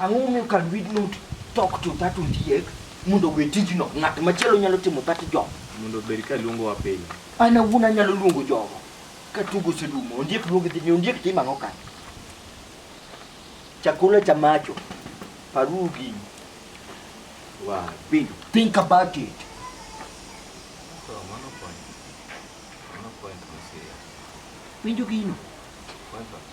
Ang'o momiyo can we not talk to that ondiek mondo owe tijno? Ng'at machielo nyalo timo that job. Mondo obed ka luongo wa pile. An awuon anyalo luongo jogo ka tugo oserumo. Ondiek luongo dhi ni ondiek timo ang'o kanyo? Chakula cha macho. Paruru gini. Wa piny. Think about it. So, mano point. Mano point ma serious. Winjo gino. Point of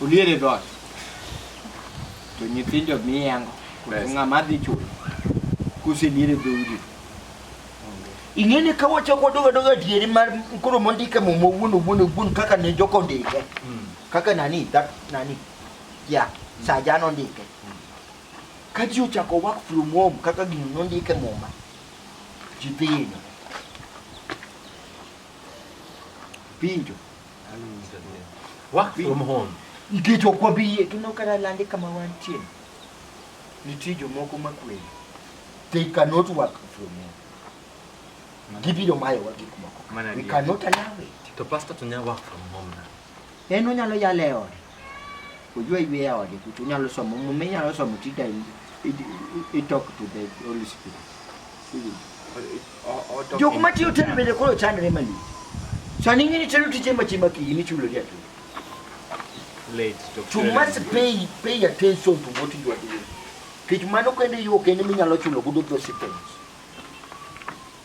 Olier e dhoot. To nyithindo miyango. Pesa. Ng'ama dhi chulo. Kuselier e dhoudi. Ing'eni ka wachako wadogo adogo adieri mar koro mondike muma owuon owuon owuon kaka ne joko ndike. Mm. Kaka nani that nani. Yeah, saja nondike. Mm. Ka ji ochako work from home kaka gino nondike muma. Ji dhi. Pinjo. Work from home. Nikech ok wabiyie kendo kata lande kama wantie. Nitie jomoko makweli. They cannot work from home. Gibiro mayowa gik moko. We cannot allow it. To pastor to work from home na. En onyalo yale ode. Ujue iwe ya wadi kutu nyalo somo mume nyalo somo tida itok to the Holy Spirit. Jok ma tiyo telo bende koro chandre mali. Sani ngini telo tije ma chima ki ni chulo dia tu. Late to. You must pay pay attention to what you are doing. Kech mano kende yo kende minyalo chulo gudo those things.